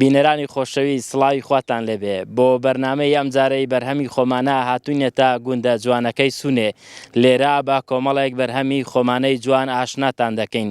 بینەرانی خۆشەویست سڵاوی خواتان لێبێ بۆ بەرنمەی ئەم جارەی بەرهەمی خۆمانە هاتوینێتە گوندە جوانەکەی سونێ لێرە با کۆمەڵێک بەرهەمی خۆمانەی جوان ئاشناتان دەکەین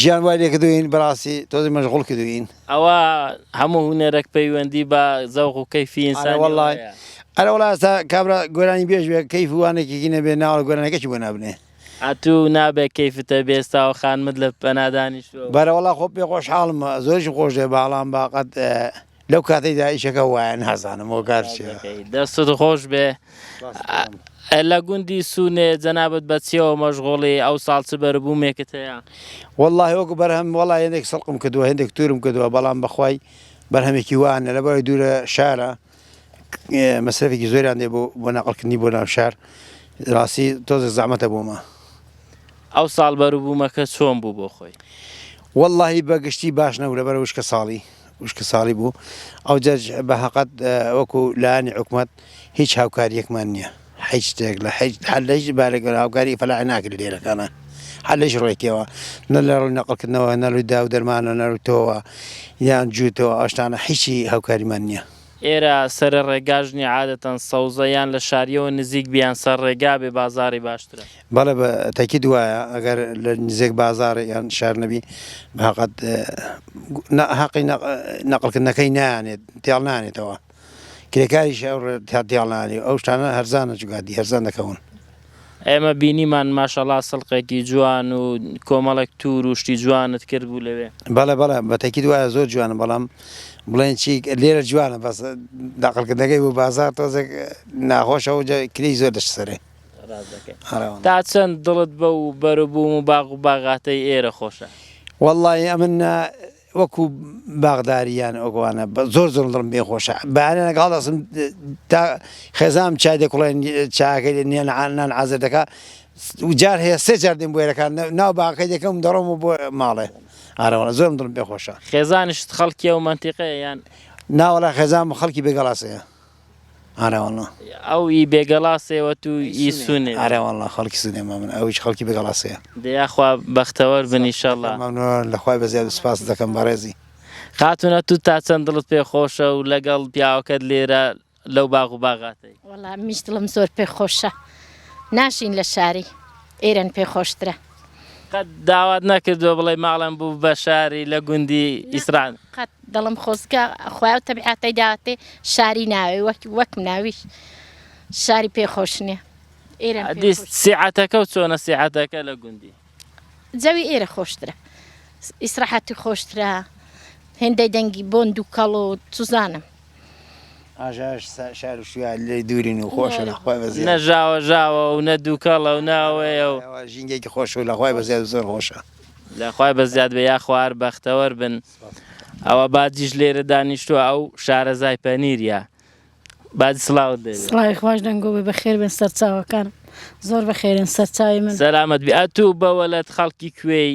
ژیان وای لێکردوین بەڕاستی تۆزێ مەژغوڵ کردوین. ئەوە هەموو هونەرەک پەیوەندی بە زەوق و کەیفی ئینسانیەوە هەیە. ئەرە وەڵا ئێستا کابرا گۆرانی بێژ بێ کەیف و وانەکێکی نەبێ ناوەڕۆک گۆرانیەکەشی بۆ نابنێ. ئەتوو نابێ کەیفت هەبێ ئێستا ئەو خانمەت لە پەنا دانیشتووە و. بەرە وەڵا خۆ پێ خۆشحاڵم زۆریشم خۆش دەوێ بەاڵام با قەت لەو کاتەیدا ئیشەکە وایە نازانم هۆکار چیە. دەستت خۆش بێ ئە لە گوندی سوونێ جەنابت بە چیەوە مەشغوڵی ئەو ساڵ چ بەروبوومێکت هەیە؟ وەڵڵاهی وەکو بەرهەم وەڵا هێندێک سڵقم کردووە هێندێک تورم کردووە بەڵام بەخوای بەرهەمێکی وا نیە لەبەرەوەی دوورە شارە مەسرەفێکی زۆریان دێ بۆ بۆ نەقڵکردنی بۆ ناو شار ڕاستی تۆزێک زەحمەتە بۆمە ئەو ساڵ بەروبوومەکە چۆن بوو بۆ خۆی؟ وەڵڵاهی بە گشتی باش نەبوو لەبەرەوەی وشکە ساڵی وشکە ساڵی بوو ئەوجەج بە هەقەت وەکو لایانی حکومت هیچ هاوکاریەکمان نییە هیچ شتێک لە هیچ هەر لە هیچ بارێک هاوکاری فەلا ناکرێت لێرەکانە هەر لەش ڕێکەوە نە لە ڕووی نەقلکردنەوە نەروی دا و دەرمانە نەروتەوە یان جووتەوە ئاشتانە هیچی هاوکاریمان نییە. ئێرە سەرە ڕێگاژنی عادەتەن سەوزە یان لە شاریەوە نزیک بیان سەر ڕێگا بێ بازاری باشترە. بەڵێ بە تەکید وایە ئەگەر لە نزێک بازارێ یان شار نەبی ماقەت هەقی نەقلکردنەکەی نانێت تێڵ نانێتەوە کرێکاریش تا تێڵنانی ئەو شتانە هەرزانە جوگادی هەرزان دەکەون ئێمە بینیمان ماشەڵا سڵقێکی جوان و کۆمەڵێک تور و شتی جوانت کرد بوو لەوێ بەڵێ بەڵێ بەتەکی دوایە زۆر جوانە بەڵام بڵێن چی لێرە جوانە بەس داقلکردنەکەی بۆ بازار تۆزێک ناخۆشەوە کلی زۆر دەشت سەرێ تا چەند دڵت بە و بەروبووم و باغ و باغاتەی ئێرە خۆشە؟ وەڵڵاهی ئەمن نا وەکو باغداری یان ئەوانە زۆر زۆر دڵم پێ خۆشە بەیانە لەگەڵ دەسم تا خێزانم چای دەکوڵێن چاکەی لە نیان نان عازر دەکا جار هەیە سێ جار دێم بوێرەکان ناو باغەکەی دەکەم دەڕۆم و بۆ ماڵێ ئارەوەڵە زۆرم دڵم پێ خۆشە خێزانشت خەڵکی ئەو مەنتیقەیە یان ناوەڵا خێزانم خەڵکی بێگەڵاسەیە ئارا وەڵا. ئەو ی بێگەڵاسێ وە تو ی سونێ. ئارا وەڵا خەڵکی سونێ مەمنون ئەویش خەڵکی بێگەڵاسێیە. دە یاخوا بەختەوەر بن ئیشەڵا. مەمنون لە خوای بەزیاد سوپاست دەکەم بەڕێزی. خاتونە تو تا چەند دڵت پێ خۆشە و لە گەڵ پیاوەکەت لێرە لەو باغ و باغاتەی. وەڵا منیش دڵم زۆر پێ خۆشە ناشین لە شاری ئێرەن پێ خۆشترە. قەت داوات نەکردووە بڵێی ماڵم بوو بە شاری لە گوندی ئیسران؟ قەت دڵم خۆزگە خوای و تەبیعەتەی داوەتێ شاری ناوێ وەک وەک مناویش شاری پێ خۆش نییە ئێرەم پێ ئەدیس خۆش سیعەتەکە و چۆنە سیعەتەکە لە گوندی؟ جەوی ئێرە خۆشترە ئیسراحەتی خۆشترە هێندەی دەنگی بۆن دووکەڵ و چوزانم. نەژاوە ژاوە و نە دووکەڵە و ناوەیە و ژینگێکی خۆش و لەخوای بە زیاد زۆر خۆشە لەخوای بە زیاد بە یاخوار بەختەوەر بن ئەوە باجیش لێرە دانیشتووە ئەو شارەزای پەنیرە باج سلااوت دێ سڵاوی خوش دەنگۆ بە خێر بن سەرچاوەکان زۆر بە خێرن سەرچاوی من سەلامەت بێت و بەوەلت خەڵکی کوێی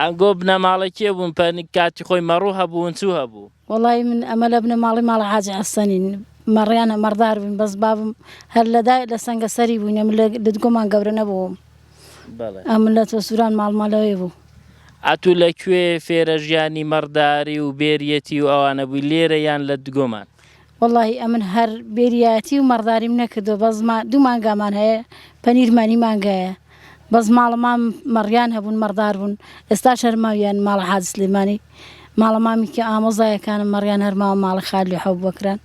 ئەنگۆ بنەماڵەی کێ بوون پە کاتی خۆی مەڕوو هەبوون چوو هەبوو. وەڵایی من ئەمە لە بنەماڵەی ماڵە حاجی حەسەنین مەڕیانە مەڕدار بووین بەس بابم هەر لەدا لە سەنگە سەری بووینە من لە ددگۆمان گەورە نەبووم ئەم لە تۆ سووران ماڵمالەوەی بوو ئەتوو لە کوێ فێرە ژیانی مەڕداری و بێریەتی و ئەوانە بووی لێرە یان لە دگۆمان وەڵاهی ئەمن هەر بێریایەتی و مەڕداریم نەکردوە بەس دوو مانگامان هەیە پەنیرمانی مانگایە بەس ماڵە مام مەڕیان هەبوون مەڕدار بوون ئێستا شەرماویان ماڵە حاج سلێمانی ماڵە مامی کە ئامۆزایەکانم مەڕیان هەرماوە ماڵە خالی حەوت بەکران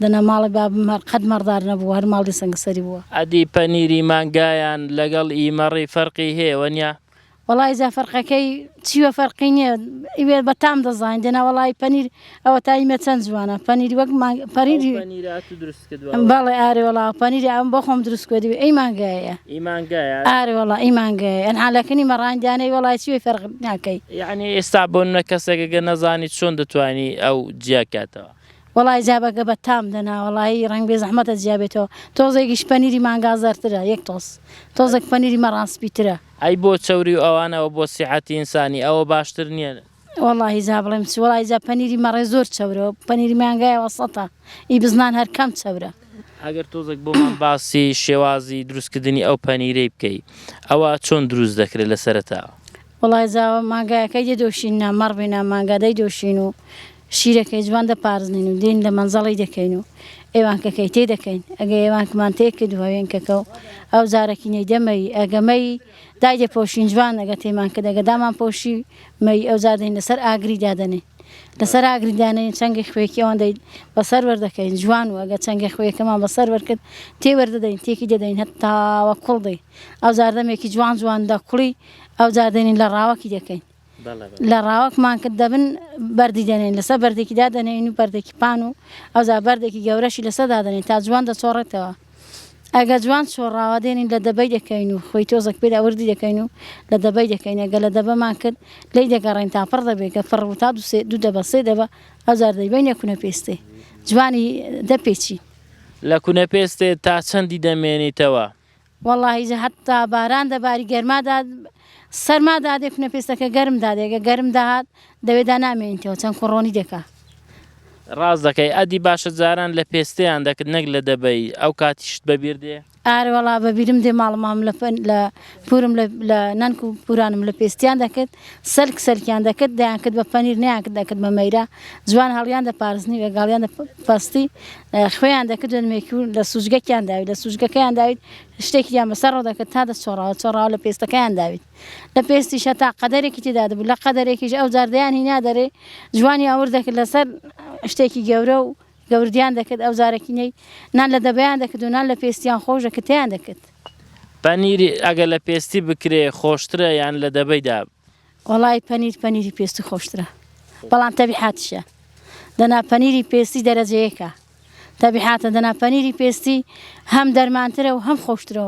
دەنا ماڵە بابم هەر قەت مەڕدار نەبوو هەر ماڵی سەنگسەری بووە. ئەدی پەنیری مانگایان لەگەڵ ئی مەڕی فەرقی هەیە وەنیا؟ وەڵای جا فەرقەکەی چیوە فەرقی نییە ئیوێ بە تام دەزانین دێنا وەڵی پەنیر ئەوە تا ئیمە چەند جوانە پەنیری وەک پەریری بەڵێ ئارێ وەڵا پەنیری ئەم بۆ خۆم دروست کردی ئەی مانگایە ئارێ وەڵا ئی مانگایە ئەن حالەکەنی مەڕاندانەی وەڵای چی فەرق ناکەی یعنی ئێستا بۆنە کەسێکەکە نەزانی چۆن دەتوانی ئەو جیاکاتەوە وەڵای زیابەکە بە تام دەنا وەڵایی ڕەنگ بێ زەحمەتە جیا بێتەوە تۆزێکیش پەنیری مانگا زەرترە یەک تۆز تۆزێک پەنیری مەڕان سپیترە. ئەی بۆ چەوری و ئەوان ئەوە بۆ سیحەتی ئینسانی ئەوە باشتر نیە. وەڵاهی جا بڵێم چی وەڵاهی جا پەنیری مەڕێ زۆر چەورە و پەنیری مانگای وەسەتە ئی بزنان هەر کەم چەورە. ئەگەر تۆزێک بۆمان باسی شێوازی دروستکردنی ئەو پەنیرەی بکەی ئەوە چۆن دروست دەکرێت لە سەرەتاوە. وەڵای زاوا مانگایەکەی دەدۆشینن نا مەڕ بین نا مانگا دەیدۆشین و شیرەکەی جوان دەپارزنین و دێین لە مەنجەڵی دەکەین و ئێوانکەکەی تێ دەکەین ئەگە ئێوانکمان تێ کرد هۆوێنکەکە و ئەو زارەکی نەیدە مەیی ئەگە مەیی دایدەپۆشین جوان ئەگە تێمان کرد ئەگە دامانپۆشی مەیی ئەوجار دێین لەسەر ئاگری دادەنێین. لەسەر ئاگری دانێین چنگی خوێکی ئەوان دەین بەسەر وەردەکەین جوان و ئەگە چنگی خوێکەمان بەسەر وەرکرد تێ وەردەدەین تێکی دەدەین هەتاوە کوڵ دەی ئەو زاردەمێکی جوان جوان دەکوڵی ئەو زاردێنین لە ڕاوەکی دەکەین لە ڕاوەکمان کرد دەبن بەردی دەنێن لەسەر بەردێکیدا دەنێن و بەردێکی پان و ئەوزا بەردێکی گەورەشی لەسەدا دەنێن تا جوان دەچۆڕێتەوە ئەگە جوان چۆڕاوە دێنین لە دەبەی دەکەین و خۆی تۆزەک پێدا وردی دەکەین و لە دەبەی دەکەین ئەگە لە دەبەمان کرد لێی دەگەڕین تا پڕ دەبێت کە پڕ بوو تا دوو سێ دوو دەبە سێ دەبە ئەوجار دەیبەینە کونە پێستێ جوانی دەپێچین. لە کونە پێستێ تا چەندی دەمێنیتەوە؟ وەڵاهی جا هەتا باران دەباری گەرما دا سەرما دادێ کونە پێستەکە گەرم دادێ ئەگە گەرم دەهات دەوێدا نامێنیتەوە چەند کوڕۆنی دەکا. ڕاست دەکەی ئەدی باشە جاران لە پێستیان دەکرد نەک لە دەبەی ئەو کاتیشت بەبیر دێ؟ ئارە وەڵا بەبیرم دێ ماڵ مام لە لە پورم لە نانک و پورانم لە پێستیان دەکرد سەلک سەلکیان دەکرد دەیان کرد بە پەنیر نیان کرد دەکرد بە مەیرە جوان هەڵیان دە پارستنی وێگاڵیان دە پەستی خوێیان دەکرد دەنمێکی و لە سوچگەکیان داوی لە سوچگەکەیان داویت شتێکیان بەسەر ڕۆ دەکرد تا دە چۆڕاوە چۆڕاوە لە پێستەکەیان داویت لە پێستی شەتا قەدەرێکی تێدا دەبوو، لە قەدەرێکیش ئەوجار دەیان هینا دەرێ، جوانی ئاور دەکرد لەسەر شتێکی گەورە و گەوردیان دەکرد، ئەوجارەکینەی نان لە دەبەیان دەکرد و نان لە پێستیان خۆش دەکرد تێیان دەکرد. پەنیر ئەگەر لە پێستی بکرێ خۆشترە یان لە دەبەیدا؟ وەڵای پەنیر پەنیری پێستی خۆشترە بەڵام تەبیحاتیشە دەنا پەنیری پێستی دەرەجە یەکە تەبیحاتە دەنا پەنیری پێستی هەم دەرمانترە و هەم خۆشترە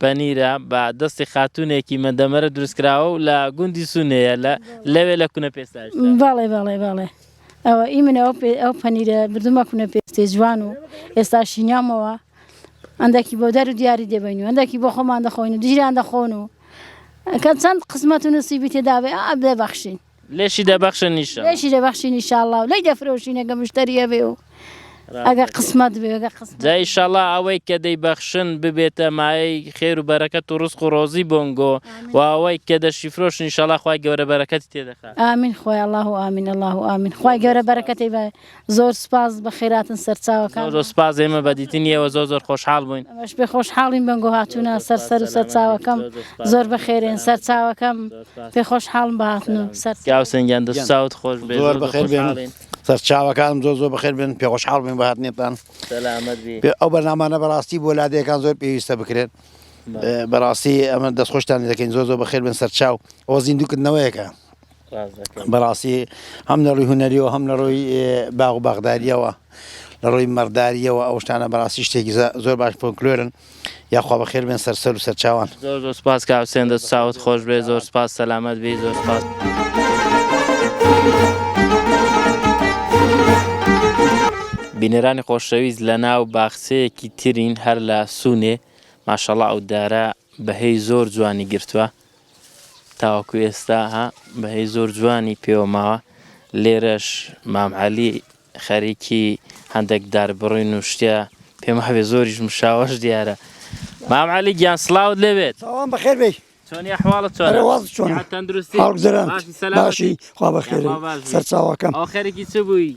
پەنیرە بە دەستی خاتوونێکی مەندەمەرە دروستکراوە و لە گوندی سونەیە لە لەوێ لە کونە پێستاشدا. بەڵێ بەڵێ بەڵێ ئەوە ئی من ئەو پێ ئەو پەنیرە بردومە کونە پێستێ جوان و ئێستا شینیامەوە ئەنداکی بۆ دەر و دیاری دەبەین و ئەنداکی بۆ خۆمان دەخۆین و دژیان دەخۆن و کە چەند قسمەت و نسیبی تێدابێ ئا دەبەخشین. لێشی دەبەخشن نیشە لێشی دەبەخشی نیشاءالله و لەی دەفرۆشین ئەگە مشتەری هەبێ و ئەگە قسمەت بێ ئەگە قسمەت جا ئیشەڵا ئەوەی کە دەیبەخشن ببێتە مایەی خێر و بەرەکەت و ڕزق و ڕۆزی بۆنگۆ و ئەوەی کە دەشی فرۆش نیشەڵا خوای گەورە بەرەکەتی تێدەخات ئامین خوای الله و ئامین الله و ئامین خوای گەورە بەرەکەتی بە زۆر سوپاس بەخێراتن سەرچاوەکان. زۆر زۆر سوپاس ئێمە بە دیتنی ئێوە زۆر زۆر خۆشحاڵ بووین. ئێمەش پێ خۆشحاڵین بەنگۆ هاتوونە سەر سەر و سەرچاوەکەم زۆر بەخێرێن سەرچاوەکەم پێ خۆشحاڵم بە هاتن و سەر. گیان حوسێن گیان دەست و چاوت خۆش بێت زۆر بەخێر بێن سەرچاوەکانم زۆر زۆر بەخێر بێن پێ خۆشحاڵ بووین بە هاتنێتان. سەلامەت بی. پێ ئەو بەرنامانە بەڕاستی بۆ لادێکان زۆر پێویستە بکرێن بەڕاستی ئەمە دەست خۆشتان لێ دەکەین زۆر زۆر بەخێر بێن سەرچاو ئەوە زیندوو کردنەوەیەکە. بەڕاستی هەم لە ڕووی هونەریەوە هەم لە ڕووی باغ و باغداریەوە لە ڕووی مەڕداریەوە ئەو شتانە بەڕاستی شتێکی زۆر باش فۆلکلۆرن یاخوا بە خێر بێن سەر سەر و سەرچاوان زۆر زۆر سپاس کاک حوسێن دەست چاوت خۆش بێ زۆر سپاس سەلامەت بی زۆر سپاس. بینەرانی خۆشەویست لە ناو باخچەیەکی ترین هەر لە سوونێ ماشەڵا ئەو دارە بەهەی زۆر جوانی گرتووە تاوەکو ئێستا ها بەهەی زۆر جوانی پێوە ماوە لێرەش مام عەلی خەریکی هەندێک داربڕین و شتیا پێم هەبێ زۆریش مشاوەش دیارە مام عەلی گیان سلااوت لەوێت ساوان بەخێر بی چۆنی حواڵە چۆن تەندروستی باشی خوا بەخێر سەرچاوەکەم ئەو خەرێکی چ بووی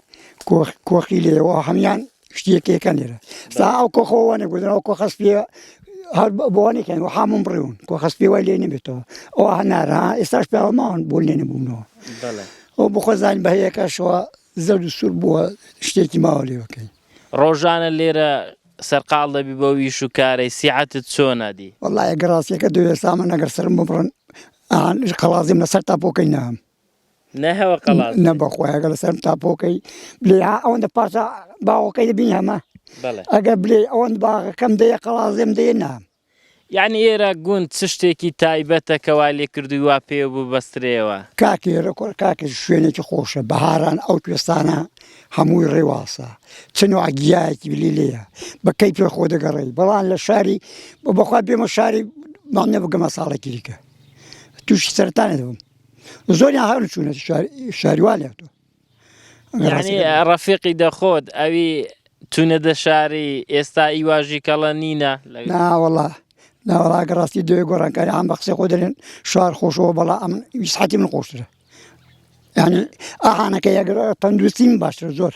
کۆخ کۆخی لێ و هەمان شتێکەکە لێرە سا ئەو کۆخەوە نەگوزنەوە کۆ خەست پێ هەر بۆنێکن و حامم بڕون کۆ خەست پێ وای لێ نبێتەوە ئەو هەنارا ئێستاش پیاوە ماون بۆ لێ نەبوونەوە ئەو بخۆزان بە هەیەکەشەوە زەرد و سوور بووە شتێکی ماوە لێوەکەی ڕۆژانە لێرە سەرقال دەبی بۆ ویش و کارەی سیعاتت چۆنا دی وڵایە گەڕاستەکە دوێ سامە نەگەر سرم ببڕن قەڵازیم لەسەر تاپۆکەی نام نە هەوە قەڵاز نە بەخۆیگە لە سەرم تاپۆکەی بلێ ئەوەندە پارچە باوەکەی دەبین هەمە ئەگەر بلێ ئەوەن باغەکەم دەیە قەڵازێم دێ نام یعنی ئێرە گوند چ شتێکی تایبەتە کەوا لێ کردووی وا پێ ببەسترێەوە کاکی ڕکۆر کاکە شوێنێکی خۆشە بەهاران ئەو کوێستانە هەمووی ڕێواسە چنو ئەگیایەکی بلی لێە بەکەی پێ خۆ دەگەڕی بەڵام لە شاری بە بەخوا بێمە شاری مامنە بگەمە ساڵێکی دیکە تووشی سەرتانێ دەبم زۆریان هەر چوونە شاریوا لێتەوە ڕەفیقی دەخۆت ئەوی تونە دە شاری ئێستا ئیواژی کەڵە نینە ناوەڵا ناوەڵاگە ڕاستی دوێ گۆڕانکاری ئەم بە قسە خۆ دەێن شار خۆشەوە بەڵا ئەم ویسحەتی من خۆشترە ینی ئاهانەکە یەگەر تەندروستیم باشتر زۆر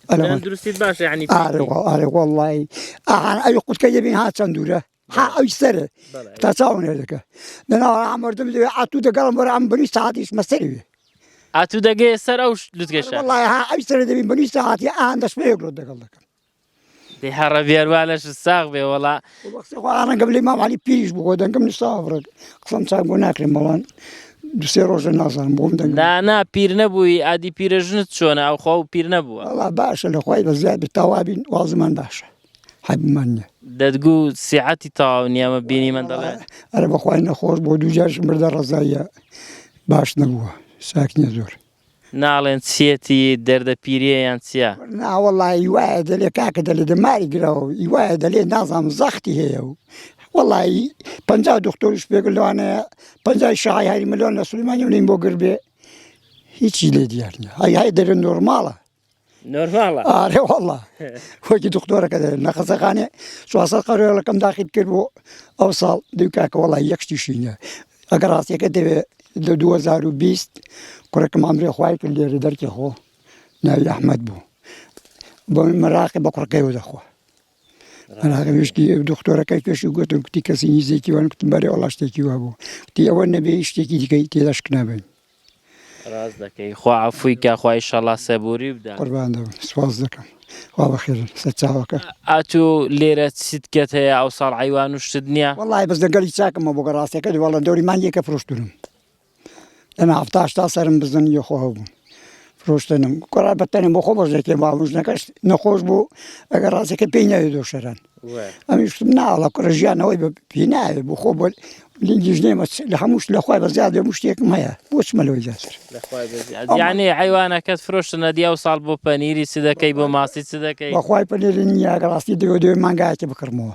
تەندروستی باش ینی ئارێ ئارێ وڵی ئاهان ئەوی قوتکە دەبین ها چەند دوورە ها ئەوی سەر تا چاوم لێ دەکە دەناوە ئامردم لێ ئاتوو دەگەڵم وەرە ئەم بنی ساعتیش مەسەری وێ ئاتوو دەگەێ سەر ئەو لوتگەشە وڵای ها ئەوی سەر دەبین بنی ساعتی ئان دەست پێ گرۆ دەگەڵ دەکەم دێ هەڕە بێروانەش ساغ بێ وەڵا ڕەنگەم لێ ماوالی پیش بۆ دەنگم نیساوە بڕێک قسەم چاک بۆ ناکرێن بەڵان دوسێ ڕۆژە نازانم بۆم دەنگ دانا پیر نەبووی ئادی پیرەژنت چۆنە ئەو خۆ پیر نەبووە باشە لە خۆی بە زیاد تاوابین وازمان باشە حەبمان نیە دەتگو سیعەتی تەواو نیە مە بینی من دەڵێ ئەرە بەخوای نەخۆش بۆ دوو جارش مردە ڕەزاییە باش نەبووە ساک نیە زۆر ناڵێن چیەتی دەردە پیریە یان چیە ناوەڵی وایە دەلێ کاکە دەلێ دەماری گراوە ئی وایە دەلێ نازام زەختی هەیە و وەڵی پ دکتۆرش پێگە لەوانە پ شای هەری ملۆن لە سلمانانی بۆ گربێ هیچی لێ دیارە هەیە دەرە نۆرماڵە نۆرماڵە ئارێ وەڵا خۆکی دختۆرەکە لە قەزەخانێ چواسە قەرێڵەکەم داخیت کرد بۆ ئەو ساڵ دوکاکە وڵی یەکشتیشینە ئەگەر ڕاستەکە دەوێت لە 2020 کوڕێکم ئەمرێ خخوای کرد لێرە دەرکی خۆ ناوی ئەحمد بوو بۆ مەراقی بە کوڕەکەیەوە دەخوا مەراقشتی دختۆرەکەی کەشی گوتم کوتی کەسی نیزێکی وان کوتم بەرێ وڵا شتێکی وا بوو کوتی ئەوە نەبێ شتێکی دیکەی تێداشکنابن ڕاست دەکەی خوا عەفووی کا خوا ئیشەڵا سەبووری بدا. قوربانت بم سپاست دەکەم خوا بەخێر سەر چاوەکەت. ئاتو لێرە چیت کەت هەیە ئەوساڵ عەیوان و شتت نیە؟ وەڵاهی بەس لەگەڵی چاکمە بۆ گە ڕاستەکەت وەڵا دەوری مانگێکە فرۆشتوونم دەنا حەفتا هەشتا سەرم بزن یۆ خۆ هەبوون فرۆشتنم کوڕە بە تەنم بۆ خۆ بەژێکێ باڵم ژنەکەش نەخۆش بوو ئەگە ڕاستەکە پێی ناوێ دۆشەران ئەمیشتم ناڵە کوڕە ژیانەوەی بە پێ ناوێ بۆ خۆ بۆ لینگیش نێمە لە هەمووش لەخوای بە زیاد بێ مشتێکم هەیە بۆچمە لەوەی زیاتر یانێ حیوانەکەت فرۆشتنە دیا و ساڵ بۆ پەنیری چ دەکەی بۆ ماسی چ دەکەی بەخوای پەنێری نییە ڕاستی دەوێ دوێ مانگایەکی بکڕمەوە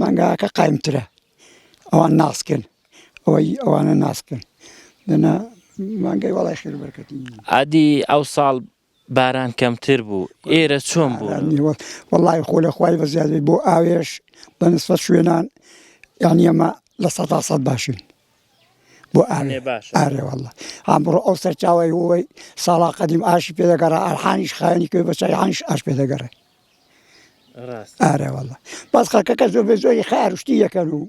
مانگاکە قایمترە ئەوان ناسکن ئەوەی ئەوانە ناسکن دەنا مانگای وڵای خێر بەرکەتی ئادی ئەو ساڵ باران کەمتر بوو ئێرە چۆن بوو وڵی خۆ لە خخوای بەزیادی بۆ ئاوێش بەنسفە شوێنان یعنی ئەمە لە سە سە باشین بۆ ئاێ باش ئارێوەڵە ئەمڕۆ ئەو سەرچاوی هۆی ساڵا قەدیم ئاشی پێدەگەڕە ئەرحانیش خانی کوێ بەچیانش ئاش پێدەگەڕێ ئارە والله بەس خەکەکە زۆر بە زۆری خار و شتی یەکەن و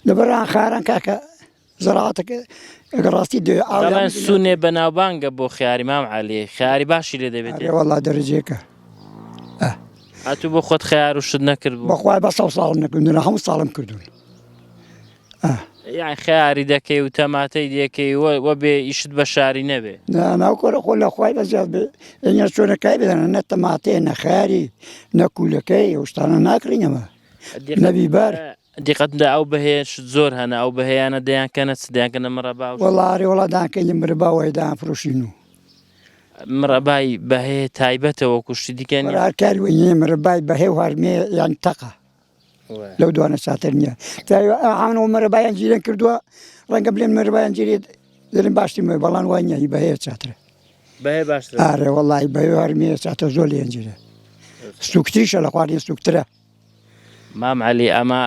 لەبەران خاران کاکە زەڕاتەکە ئەگە ڕاستی دێ ئاو دەڵێن سونێ بەناوبانگە بۆ خیاری مام علی خیاری باشی لێ دەبێت ئارە والله دەرەجەیەکە هاتوو بۆ خۆت خیار و شت نەکرد بوو بەخوای بە ساڵ ساڵم نەکردن هەموو ساڵم کردوون ئاه. یان خەیاری دەکەی و تەماتەی دێکەی و وە بێ ئیشت بە شاری نەبێ. نا نا کورە خۆ لە خوای بەزیاد بێ ئێنجا چۆنە کای بزانە نە تەماتەیە نە خەیاری نە کوولەکەی ئەو شتانە ناکڕین ئەمە نە بیبەر. دیقەت بدە ئەو بەهەیەشت زۆر هەنە ئەو بەهەیانە دەیانکەنە چ دەیانکەنە مەڕەبا و وەڵا ئەرێ وەڵا دانکەین مرەبا وای دانفرۆشین و مڕەبای بەهەیە تایبەتە وەکوو شتی دیکە نییە. هەر کاری وای نییە مرەبای بەهەی و هەرمێ یان تەقە. لەو دوانە چاتر نییە تاوان و مەرەبایان جیرێن کردووە ڕەنگە بلێن مەربایان جێت دەرم باشتی مە بەڵان وای نیە هی بەهەیە چاترە بەێ باش ئارێ وڵی بەێوارمێ چاتە زۆر لێنجرە سوکتریشە لە خوارد سوکترە مام علی ئەمە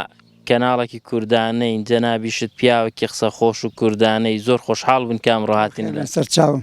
کەناڵێکی کوردانەین جەنابیشت پیاوەکی قسە خۆش و کوردانەی زۆر خۆشحاڵ بن کام ڕاهاتین لە سەرچاوم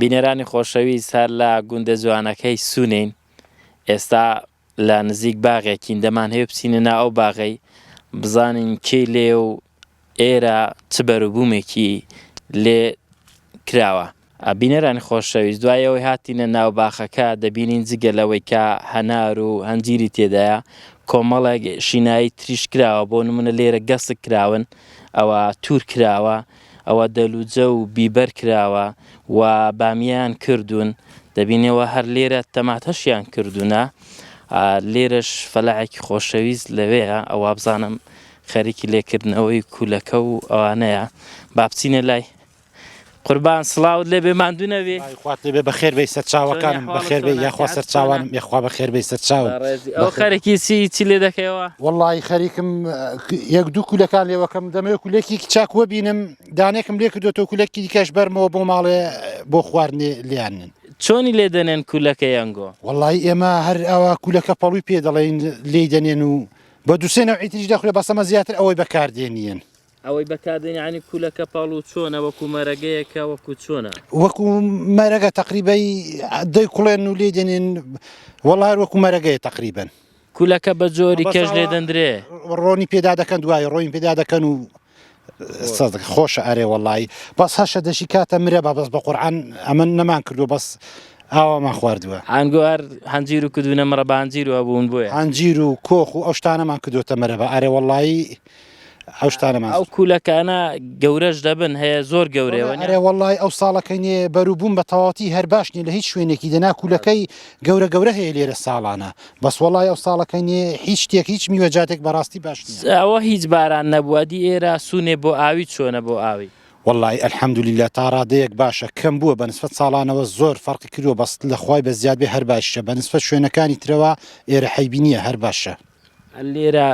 بینەرانی خۆشەویست هەر لە گوندە جوانەکەی سوونین ئێستا لە نزیک باغێکین دەمان هەیە بچینە نا ئەو باغەی بزانین کێ لێ و ئێرە چ بەروبوومێکی لێ کراوە بینەرانی خۆشەویست دوایەوەی هاتینە ناو باخەکە دەبینین جگە لەوەی کە هەنار و هەنجیری تێدایە کۆمەڵێک شینایی تریش کراوە بۆ نمونە لێرە گەسک کراون ئەوە تور کراوە ئەوە دەلوجە و بیبەر کراوە و بامیەیان کردوون دەبینێ و هەر لێرە تەماتەشیان کردوونە لێرەش فەلاعێکی خۆشەویست لەوەیە ئەوە بزانم خەریکی لێکردنەوەی کولەکە و ئەوانەیە با بچینە لای قوربان سڵاوت لێ بێ ماندوو نەبی. خوات لێبێ بەخێر بێی سەرچاوەکانم بەخێر بێی یاخوا سەرچاوانم یەخوا بەخێر بێی سەرچاوم بەڕێزی ئەوە خەرکی چی چی لێ دەکەیەوە؟ وەڵڵاهی خەریکم یەک دوو کولەکان لێوەکەم دەمەوێ کولەکێکی چاک وەبینم دانێکم لێ کردۆتەوە کولەکی دیکەش بەرمەوە بۆ ماڵێ بۆ خواردنێ لێیانن چۆنی لێ دەنێن کولەکە یەنگۆ وەڵی ئێمە هەر ئەوە کولەکە پەڵوی پێ دەڵێن لێی دەنێن و بە دووسێنەوە ئیتریش دەخورێ بەسەمە زیاتر ئەوەی بەکاردێنیەن ئەوەی بەکاردێنی یانی کولەکە پاڵ و چۆنە وەکو مەرەگەیەکە وەکو چۆنە. وەکو مەرەگە تەقریبەی دەی کوڵێن و لێ دێنین وەڵار وەکو مەرەگەیە تەقریبەن. کولەکە بە جۆری کەش لێ دەندرێ. ڕۆنی پێدا دەکەن دوای ڕۆین پێدا دەکەن و خۆشە ئەرێ وەڵی بەس هەشە دەشی کاتە مرە بە بەس بە قورعان ئەمە نەمان کردو بەس ئاوامان خواردووە ئەنگوار هەنجیر و کردوونە مەڕە بانجیر و بوون بۆیە هەنجیر و کۆخ و ئەو شتانەمان کردوتە مەرەبە ئەرێ وەڵی ئەو شتانە ماست. ئەو کولەکانە گەورەش دەبن هەیە زۆر گەورەیە وەنیە. ئەرێ وەڵڵای ئەو ساڵەکەی نێ بەروبووم بە تەواوەتی هەر باش نیە لە هیچ شوێنێکی دەنا کولەکەی گەورە گەورە هەیە لێرە ساڵانە بەس وەڵڵای ئەو ساڵەکەی نێ هیچ شتێک هیچ میوەجاتێک بەڕاستی باش نیە. ئەوە هیچ باران نەبووە دی ئێرە سوونێ بۆ ئاوی چۆنە بۆ ئاوی. وەڵڵای الحمدللە تا ڕادەیەک باشە کەم بووە بە نسبەت ساڵانەوە زۆر فەڕقی کردووە بەس لە خوای بە زیاد بێ هەر باشیشە بە نسبەت شوێنەکانی ترەوە ئێرە حەیبی نیە هەر باشە. لێرە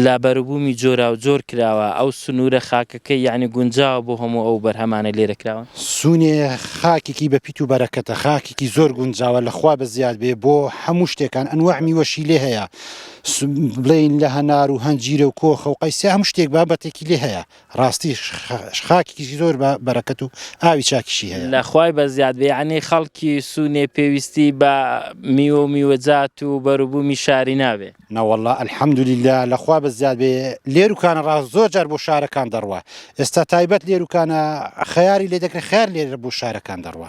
لابەروبومی جۆراوجۆر کراوە، ئەو سنوورە خاکەکەی یەعنی گونجاوە بۆ هەموو ئەو بەرهەمانەی لێرە کراون؟ سنێ خاکێکی بە پیت و بەرەکەتە، خاکێکی زۆر گونجاوە، لە خوا بەزیاد بێ بۆ هەموو شتێکان، ئەنواع میوەشی لێ هەیە، بڵێین لە هەنار و هەنجیرە و کۆخە و قەیسیا هەموو شتێک بابەتێکی لێ هەیە، ڕاستی خاکیکی زۆر بە بەرەکەت و ئاوی چاکیشی هەیە. لە خوای بە زیاد بێ یەعنی خەڵکی سوونێ پێویستی بە میوە و میوەجات و بەروبوومی شاری نابێ. نەوەڵا الحمدللە لە خوا بە زیاد بێ لێر و کانە ڕاست زۆر جار بۆ شارەکان دەڕوا ئێستا تایبەت لێر و کانە خەیاری لێ دەکرێ خەیار لێرە بۆ شارەکان دەڕوا.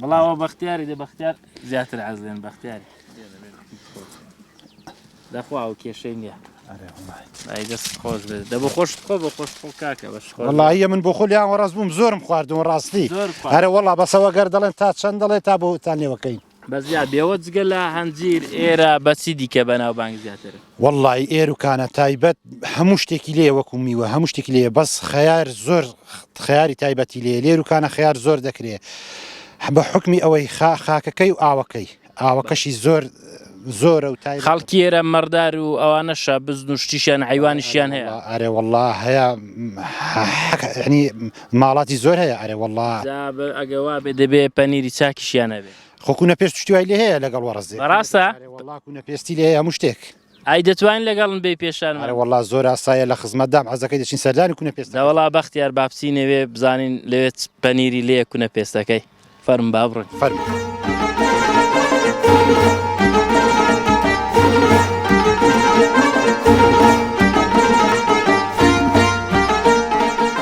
بڵاوە بەختیاری دە بەختیار زیاتر عز لێن بەختیاری دەخوا و کێشەی نییە دەست خۆش بێت دە بۆ خۆش خۆ بە خۆش خۆ کاکە بەش خۆڵایە من بۆ خۆلیان وەڕاست بووم زۆرم خواردون ڕاستی هەرە وەڵا بەسەوە گەر دەڵێن تا چەند دەڵێت تا بۆتان لێوەکەین بەزیا بێوە جگە لە هەنجیر ئێرە بەچی دیکە بەناو بانگ زیاتر وەڵڵایی ئێر و کانە تایبەت هەموو شتێکی لێیە وەکو میوە هەموو شتێکی لێیە بەس خەیار زۆر خەیاری تایبەتی لێ لێر و کانە خەیار زۆر دەکرێ بە حکمی ئەوەی خا خاکەکەی و ئاوەکەی ئاوەکەشی زۆر زۆرە و تای خەڵکی ئێرە مەڕدار و ئەوانەشە بزن و شتیشیان حیوانیشیان هەیە واللە ئەرێ واللە هەیە حەک ینی ماڵاتی زۆر هەیە ئەرێ واللە جا بە ئەگەوا بێ دەبێ پەنیری چاکیشیان هەبێ خۆکوونە پێست شتی وای لێ هەیە لەگەڵ وەڕزێ بەڕاستە وڵاکوونە پێستی لێ هەموو شتێک ئای دەتوانین لەگەڵن بێ پێشان ئەرە وڵا زۆر ئاسایە لە خزمەتدام عزەکەی دەچین سەردانی کوونە پێست دەوڵا بەختیار باپسی نەوێ بزانین لەوێت پەنیری لێ کوونە پێستەکەی فەرم با بڕن فەرم.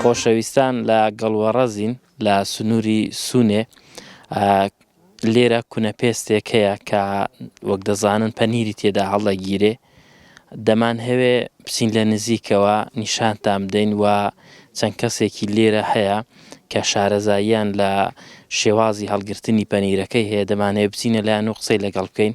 خۆشەویستان لە گەڵوەڕەزین لە سنووری سوونێ لێرە کونە پێستێک هەیە کە وەک دەزانن پەنیری تێدا هەڵدەگیرێ دەمان هەوێ بچین لە نزیکەوە نیشانتان بدەین و چەند کەسێکی لێرە هەیە کە شارەزاییان لە شێوازی هەڵگرتنی پەنیرەکەی هەیە دەمانەیە بچینە لایەن و قسەی لەگەڵ بکەین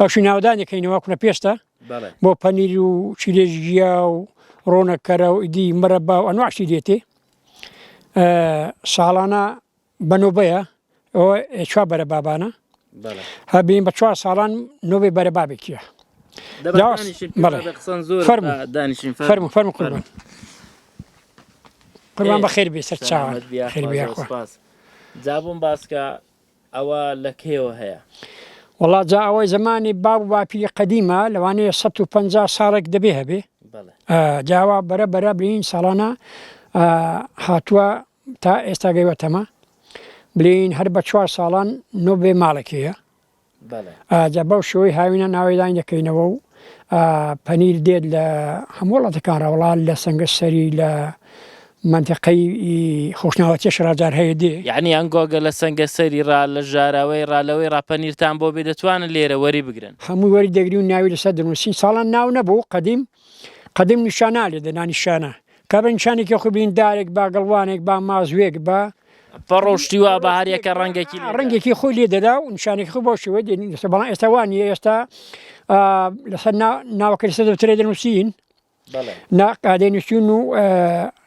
ئەوشی ناودانێک کەینەوە کورە پێستە بۆ پەنیر و چیلێژ گیا و ڕۆنەکەرە و ئیدی مەرە با و ئەنواشی دێتێ ساڵانە بەنۆبەیە ئەوە چوا بەرە بابانە هەبین بە چوار ساڵان نۆبێ بەرە بابێکیە فەرم فەرم قوربان قوربان بە خێر بێ سەر چاوان خێر بێ خۆ جابووم باسکە ئەوە لە کەیەوە هەیە؟ وەڵا جا ئەوە زەمانی باب و باپیری قەدیمە لەوانەیە سەد و پەنجا ساڵێک دەبێ هەبێ جاوا بەرە بەرە بلین ساڵانە هاتووە تا ئێستا گەیوەتەمە بلین هەر بە چوار ساڵان نۆ بێ ماڵێک هەیە جا بەو شوی هاوینە ناوەیدان دەکەینەوە و پەنیر دێت لە هەموو وڵاتەکان ڕەوڵان لە سنگە سەری لە مەنتەقەی خۆشناوەتیە شڕاڤدار هەیە دێ. یەعنی ئەن گۆگە لە سەنگەسەری ڕا لە ژاراوەی ڕا لەوەی ڕا پەنیرتان بۆ بێ دەتوانن لێرە وەری بگرن. هەمووی وەری دەگری و ناوی لەسەر دەنووسین ساڵان ناو نەبوو قەدیم قەدیم نیشانا لێ دەنا نیشانە کە بە نیشانێکی خۆی بین دارێک با گەڵوانێک با مازوێک با پەڕۆ و شتی وا با هەر یەکە ڕەنگێکی لێ دا. ڕەنگێکی خۆی لێ دەدا و نیشانێکی خۆی بەو شێوەیە دێنین لەسەر بەڵام ئێستا وا نییە ئێستا لەسەر ناوەکەی لەسەر دەفتەرێ دەنووسین نا قادەی نشوون و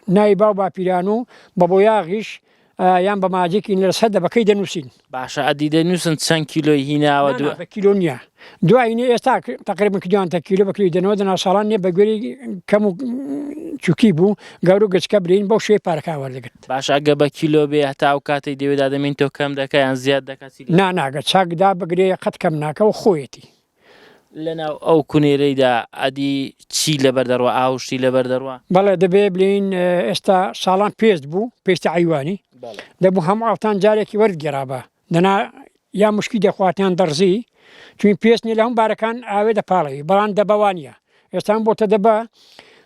ناوی باو باپیران و بە بۆیاغیش یان بە ماجێکی لە سەر دەبەکەی دەنووسین باشە ئەدی دەنووسن چەند کیلۆی هیناوە دو کیلۆ نییە دوایینە ئێستا تقریبا کیلوانتە کیلو بەکری دەنەوە دەنا ساڵان نیە بە گوێری کەم و چوکی بوو گەورو گەچکە برین بۆ شێ پارکاوە دەگرت باش ئەگە بە کیلۆ بێ هەتا و کاتی دەوێدا دەمین تۆ کەم دەکەیان زیاد دەکات نا ناگە چاکدا بگرێ قەت کەم ناکە و خۆیەتی لەناو ئەو کونێرەیدا ئەدی چی لەبەر دەڕوا ئاو شتی لەبەر دەڕوا. بەڵێ دەبێ بلێین ئێستا ساڵان پێست بوو پێستی عەیوانی دەبوو هەموو ئاوتان جارێکی وەرت گێرابا دەنا یا مشکی دەخوات یان دەڕزی چوین پێست نیە لە هەموو بارەکان ئاوێ دەپاڵێوی بەڵام دەبەوانیە ئێستان بۆتە دە بە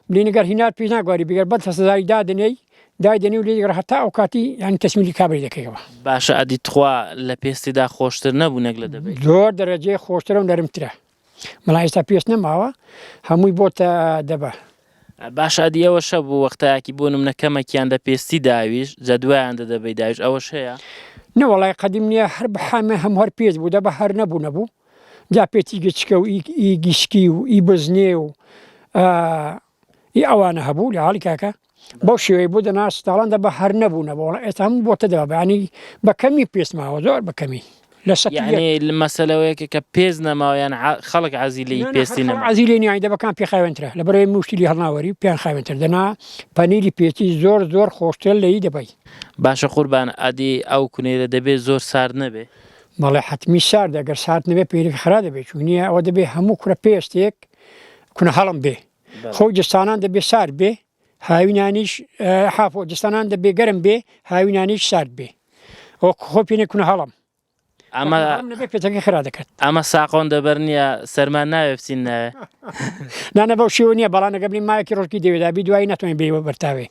بلینە گەر هینار پیش ناگواری بگەر بەد فەسەزاری دادنێی دایدەنی و لێگەڕ هەتا ئەو کاتی یان تەسمیلی کابری دەکەیەوە. باشە ئەدی تخوا لە پێستیدا خۆشتر نەبوو نەک لە دەبەی. زۆر دەرەجەی خۆشترە و نەرمترە. بەڵام ئێستا پێست نەماوە هەمووی بۆتە دەبە. باشە ئەدی ئەوە شە بوو وەختایەکی بۆ نمنە کەمەکیان دە پێستی داویش جە دوایان دە دەبەی داویش ئەوەش هەیە. نەوەڵای قەدیم نییە هەر بە حامێ هەموو هەر پێست بوو دەبە هەر نەبوو نەبوو. جا پێتی گچکە و ئی گیشکی و ئی بزنێ و ئی ئەوانە هەبوو لە حاڵی کاکە بەو شێوەی بۆ دەنا سپتاڵان دە بە هەر نەبوونە بۆڵە ئێستا هەموو بۆتە دەبانی بە کەمی پێسماوە زۆر بە کەمی لە سەد مەسلەوەیەکە کە پێز نەماوەیان خەڵک عزیلی پێستی نەما عزیلی نیای دەبەکان پێ خاوێنترە لە بەرەوەی مشتلی هەڵناوەری پێیان خاوێنتر دەنا پەنیری پێتی زۆر زۆر خۆشتر لەی دەبی باشە قوربان ئەدی ئەو کونێرە دەبێت زۆر سارد نەبێ بەڵێ حەتمی ساردە گەر سارد نەبێ پێیرێکی خرا دەبێ چون نییە ئەوە دەبێ هەموو کورە پێستێک کونە هەڵم بێ خۆی جستانان دەبێ سارد بێ هاوینانیش حافۆ جستانان دەبێ گەرم بێ هاوینانیش سارد بێ ئەو خۆ پێێ کونە هەڵم ئەمە پێتەکە خرا دەکات ئەمە ساقۆن دەبەر نییە سەرمان ناوێ بچین ناوێ نانە بەو شێوە نییە بەڵانەگە بنی مایەکی ڕۆژکی دەوێدابی دوایی ناتوانین بێوە بەرتاوێ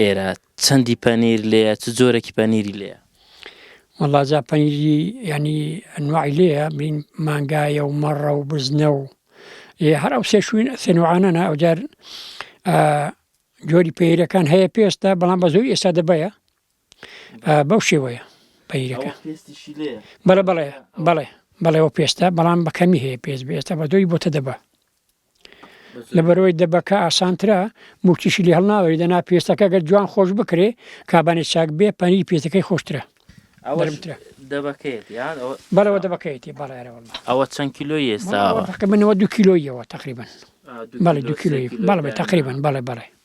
ئێرە چەندی پەنیر لێیە چ جۆرەکی پەنیری لێیە؟ وەڵا جا پەنیری یعنی ئەنواعی لێیە بین مانگایە و مەڕە و بزنە و هەر ئەو سێشوین سێنوعانەە ئەوجار جۆری پێیرەکان هەیە پێستە بەڵام بە زۆری ئێستا دەبەیە بەو شێوەیە پەیرەکە بەڵێ بەڵێ بەڵێ بەڵێەوە پێستە بەڵام بەکەمی هەیە پێست بێستە بە دۆی بۆتە دەبە لەبەرەوەی دەبەکە ئاسانترە موچیشی لێ هەڵناوەری دەنا پێستەکە گەر جوان خۆش بکرێ کابانێ چاک بێ پەنی پێستەکەی خۆشترە بەرەوە دەبەکەیەتی بەڵێرە ئەوە چەند کیلۆ ئێستا منەوە دو کیلۆیەوە تقریبن بەڵێ دو کیلۆی بەڵێ تقریبن بەڵێ بەڵێ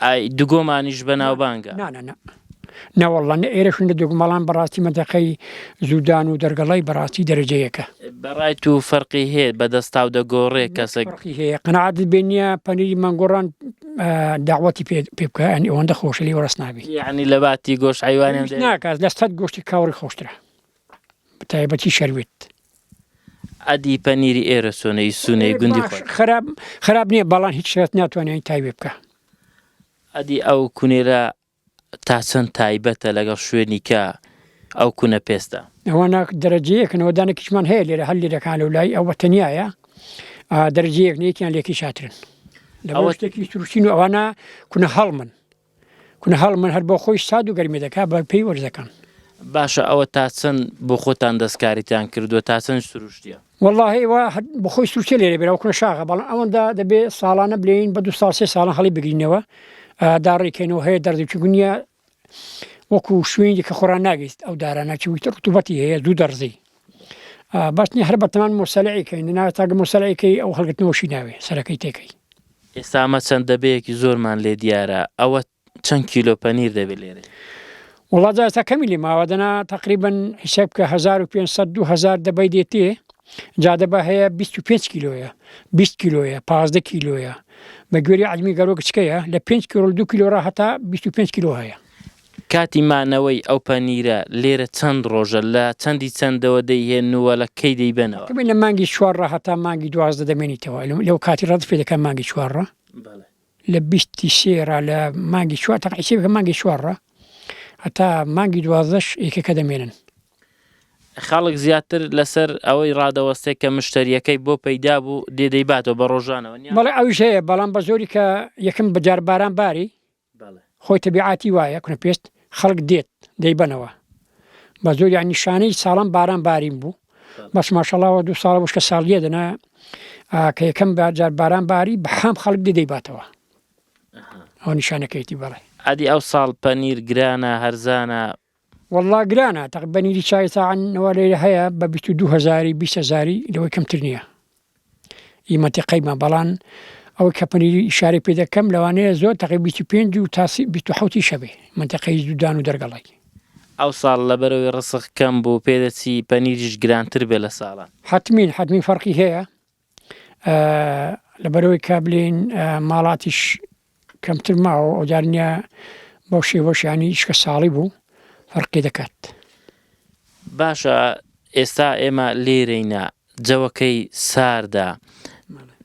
ئای دگۆمانیش بەناوبانگە. نا نا نا نەوەڵڵا نە ئێرەش نە دگۆم بەڵام بەڕاستی مەنتەقەی زوودان و دەرگەڵای بەڕاستی دەرەجە یەکە. بەڕای تو فەرقی هەیە بە دەستاو دەگۆڕێ کەسەک. نەک فەرقی هەیە قەناعەتت بێ نیە پەنیری مەنگۆڕان داوەتی پێ پێ بکە یانی ئەوەندە خۆشە لێ وەڕس نابی. یەعنی لە باتی گۆشت حەیوانیان دەیەن. هیچ ناکات لە سەد گۆشتی کاوڕی خۆشترە. بەتایبەتی شەروێت. ئەدی پەنیری ئێرە چۆنە ئی سونەی گوندی خۆت؟ خراپ خراپ نییە بەڵام هیچ شێت ناتوانێت ئەوی تایبێ بکا. ئەدی ئەو کونێرە تا چەند تایبەتە لەگەڵ شوێنی کە ئەو کونە پێستە؟ ئەوانە دەرەجەیەکن ئەوەدانێکیشمان هەیە لێرە هەر لێرەکان لەو لای ئەوە تەنیایە دەرەجەیەک نێکیان لێکی شاترن لەوە شتێکی تروشین و ئەوانە کونە هەڵمن کونە هەڵ من هەر بۆ خۆی ساد و گەرمی دەکا بە پێی وەرزەکان. باشە ئەوە تا چەند بۆ خۆتان دەستکاریتان کردووە تا چەند سروشتیە؟ والله ئێوە بەخۆی سوچە لێرە بێرەوە کونە شاغە بەڵام ئەوەندە دەبێ ساڵانە بلێین بە دو ساڵ سێ ساڵە هەڵی بگرینەوە داڕیکەینەوە هەیە دەردوکی گونیە وەکو شوێنی کە خۆران ناگەیت ئەو دارانە چویتە ڕتوبەتی هەیە دوو دەڕزی باش نیە هەر بەتەمان موسەلەعی کەین نەناوێ تاکە موسەلەعی کەی ئەو هەڵگرتنەوە شی ناوێ سەرەکەی تێکەی. ئێستا ئەمە چەند دەبەیەکی زۆرمان لێ دیارە ئەوە چەند کیلۆ پەنیر دەبێت لێرەی؟ وەڵا جا ئێستا کەمی لێ ماوە دەنا تەقریبەن حیساب بکە هەزار و پێنج سەد دوو هەزار دەبەی دێتێ جا دەبە هەیە بیست و پێنج کیلۆیە بیست کیلۆیە پازدە کیلۆیە بە گوێری عەلمی گەرۆ گچکەیە لە پێنج کیلۆ دوو کیلۆ ڕا هەتا بیست و پێنج کیلۆ هەیە کاتی مانەوەی ئەو پەنیرە لێرە چەند ڕۆژە؟ لە چەندی چەندەوە دەیهێن و لە کەی دەیبەنەوە؟ لە مانگی چوار ڕا هەتا مانگی دوازدە دەمێنیتەوە لەو کاتی ڕادەست پێ دەکەن مانگی چوار ڕا لە بیستی سێ ڕا لە مانگی چوار تەق ئیسێ بکە مانگی چوار ڕا هەتا مانگی دوازدەش ئێکەکە دەمێنن خەڵک زیاتر لەسەر ئەوەی ڕادەوەستێک کە مشتەریەکەی بۆ پەیدا بوو دێدەیباتەوە بە ڕۆژانەوە بەڵێ ئەوش هەیە بەڵام بە زۆری کە یەکم بەجار باران باری بەڵێ. خۆی تەبیعاتی وایە کونەپێست خەڵک دێت دەیبەنەوە بەزۆر یانی شانەی ساڵان باران بارین بوو بەس ماشەڵا وە دوو ساڵە وشکە ساڵیە دەنا کە یەکەم جار باران باری بە حام خەڵک دی دەیباتەوە ئەها. ئەوە نیشانەکەیەتی بەڵێ. ئەدی ئەوساڵ پەنیر گرانە هەرزانە وەڵڵا گرانە تەق بەنیری چای تاعن نەوە لێرە هەیە بە بیست و دوو هەزاری بیست هەزاری لەوەی کەمتر نییە ئی مەنتیقەیمە بەڵان ئەوەی کە پەنیری ئیشارەی پێ دەکەم لەوانەیە زۆر تەقی بیست و پێنج و تا سی بیست و حەوتی شەبێ مەنتیقەی دوودان و دەرگەڵای ئەوساڵ لەبەرەوەی ڕزق کەم بوو پێدەچی پەنیریش گرانتر بێ لە ساڵان. حەتمین حەتمین فەرقی هەیە. لەبەرئەوەی کا بلێین ماڵاتیش کەمتر ماوە ئەوجارنیا بەو شێوەشانی شکە ساڵی بوو فەرقی دەکات باشە ئێستا ئێمە لێرەینە جەوەکەی ساردا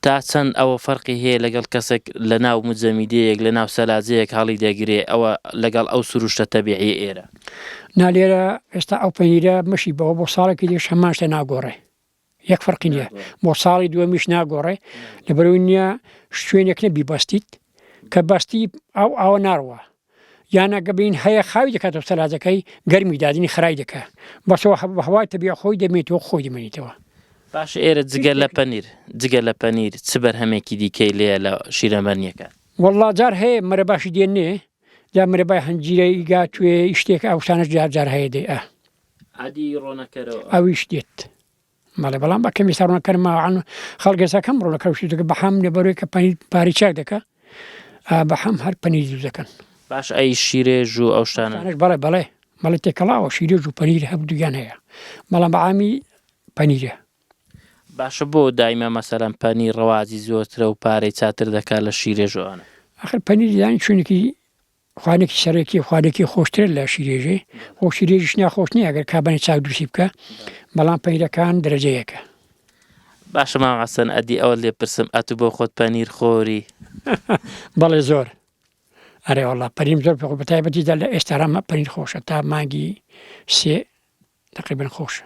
تا چەند ئەوە فەرقی هەیە لەگەڵ کەسێک لە ناو مجەمیدەیەک لە ناو سەلاجەیەک هەڵی دەگرێ ئەوە لەگەڵ ئەو سروشتە تەبیعی ئێرە نالێرە ئێستا ئەو پەنیرە مەشی بەوە بۆ ساڵێکی دێش هەماشتە ناگۆڕێ یەک فەرقی نیە بۆ ساڵی دووەمیش ناگۆڕێ لەبەرەوەی نیە شوێنێک نە بیبەستیت کە بەستی ئەو ئاوە ناڕوە یانە گەبین هەیە خاوی دەکات و سەلاجەکەی گەرمی دادنی خرای دەکە بەسەوە هە بەهوای تەبی خۆی دەمێت و خۆی دەمێنیتەوە باش ئێرە جگە لە پەنیر جگە لە پەنیر چ بەرهەمێکی دیکەی لێە لە شیرەمەرنیەکە والله جار هەیە مەرە باشی دێنێ جا مرەبای هەنجیرەی گاتوێ شتێک ئەوسانە جار جار هەیە دەی ئە عەدی ڕۆنەکەرەوە. ئەویش دێت. بەڵێ بەڵام بە کەمی ساڕۆنە کەرم ماوەعاان خەڵگەزا کەم ڕۆنە کەوشی دەکە بە حام لە بەرۆی کە پەنی پاری چاک دەکە بە حەم هەر پەنی زوو دەکەن باش ئەی شیرێژ و ئەو شتانش بەڵێ بەڵێ مەڵی تێکەڵاوە شیرێژ و پەنیر هەب دوگیان هەیە بەڵام بەعامی پەنیرە باشە بۆ دایمە مەسەرم پەنی ڕەوازی زۆرترە و پارەی چاتر دەکات لە شیرێژوانە ئەخر پەنیریان چونکی خوانێکی سەرەکی خوانێکی خۆشتر لە شیرێژێ خۆ شیرێژش ناخۆش نییە ئەگەر کابانی چاک دووسی بکە بەڵام پەیرەکان درەجەیەکە باشە مام عسەن ئەدی ئەوە لێ پرسم ئەتو بۆ خۆت پەنیر خۆری بەڵێ زۆر ئەرێ وڵا پەریم زۆر پێ بەتایبەتی دە لە ئێستارامە پەنیر خۆشە تا مانگی سێ تەقریبەن خۆشە.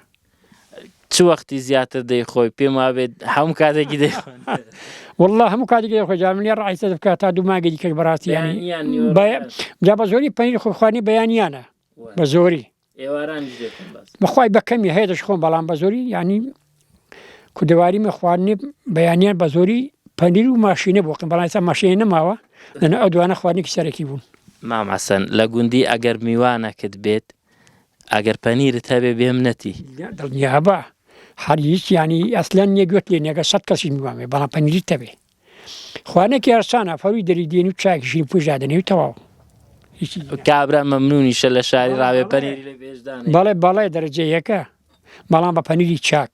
چ وەختی زیاتر دەیخۆی پێم وابێت هەموو کاتێکی دێ والله هەموو کاتێکی دەخۆ جا من ڕایسە بکات تا دوو ماگەی کەک بەڕاستی جا بە زۆری پەنیر خۆخوانی بەیانیانە بە زۆری بەخوای بەکەمی هەیە دەش خۆم بەڵام بە زۆری ینی کودەواری مە خواردنی بەیانیان بە زۆری پەنیر و ماشینە بۆکەم بەڵایسا ماشێن نەماوە لەنە ئەو دوانە خواردنێکی سەرەکی بوون ماماسەن لە گوندی ئەگەر میوانەکت بێت ئەگەر پەنیرت هەبێ بێم نەتی. دڵنیابە هەر هیچ یانی ئەسلەن نیە گوێت لێ نەگە سەد کەسی نوامێ بەڵام پەنیریت تەبێ خوانێکی هەرسانە فەوی دەری دێن و چاکی شین پوش دادەنێ و تەواو کابرا مەمنونیشە لە شاری ڕاوێ پەنیر بەڵێ بەڵێ دەرەجەیەکە بەڵام بە پەنیری چاک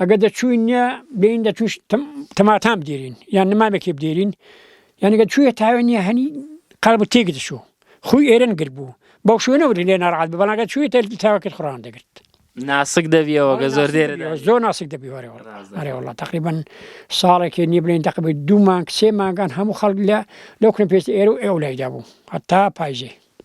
ئەگە دەچووین نیە بین دەچوش تەماتام بدێرین یان نمامێکی بدێرین یانگە چوویە تاوێن نیە هەنی قەڵب تێک دەچوو خوی ئێرن گرت بوو بەو شوێنە وری لێ ناڕات بەڵگە چووی تەل تاوەکرد خڕان دەگرت ناسک دەبیەوەگە زۆر دێر زۆر ناسک دەبیوەرەوەڵە تقریبن ساڵێکی نیە بلێن دەقبێت دوو مانگ سێ ماگان هەموو خەڵک لە لەو کن پێست ئێرە و ئێو لایدا بوو هەتا پایزێ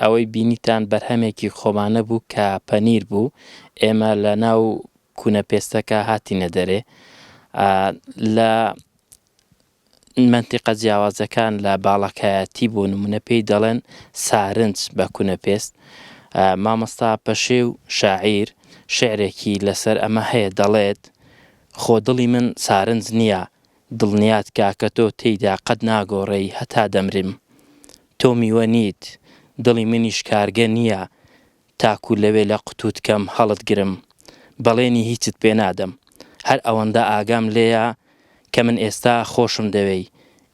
ئەوەی بینیتان بەرهەمێکی خۆمانە بوو کە پەنیر بوو ئێمە لە ناو کونە پێستەکە هاتینە دەرێ لە منتیقە جیاوازەکان لە باڵەکایەتی بۆ نمونە پێی دەڵێن سارنج بە کونە پێست مامۆستا پەشێ و شاعیر شعرێکی لەسەر ئەمە هەیە دەڵێت خۆ دڵی من سارنج نییە دڵنیات کاکە تۆ تێیدا قەت ناگۆڕێی هەتا دەمرم تۆ میوە نیت دڵی منیش کارگە نیە تاکو لەوێ لە قوتوت کەم هەڵت گرم بەڵێنی هیچت پێ نادەم هەر ئەوەندە ئاگام لێیە کە من ئێستا خۆشم دەوێی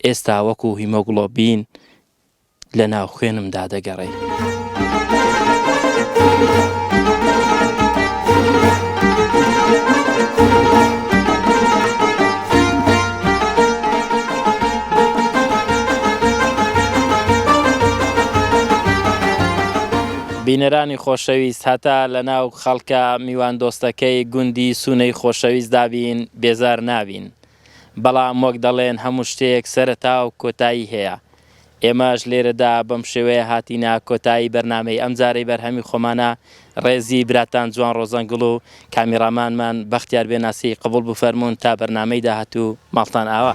ئێستا وەکو هیمۆگڵۆبین لە ناو خوێنمدا دەگەڕێی. بینەرانی خۆشەویست هەتا لە ناو خەڵکە میواندۆستەکەی گوندی سوونەی خۆشەویستدا بین، بێزار نابین. بەڵام وەک دەڵێن هەموو شتێک سەرەتا و کۆتایی هەیە، ئێمەش لێرەدا بەم شێوەیە هاتینە کۆتایی بەرنامەی ئەمجارەی بەرهەمی خۆمانە، ڕێزی براتان جوان ڕۆزەنگڵ و کامیڕامانمان بەختیار بێناسی قبوڵ بفەرموون تا بەرنامەی داهاتوو ماڵتان ئاوا.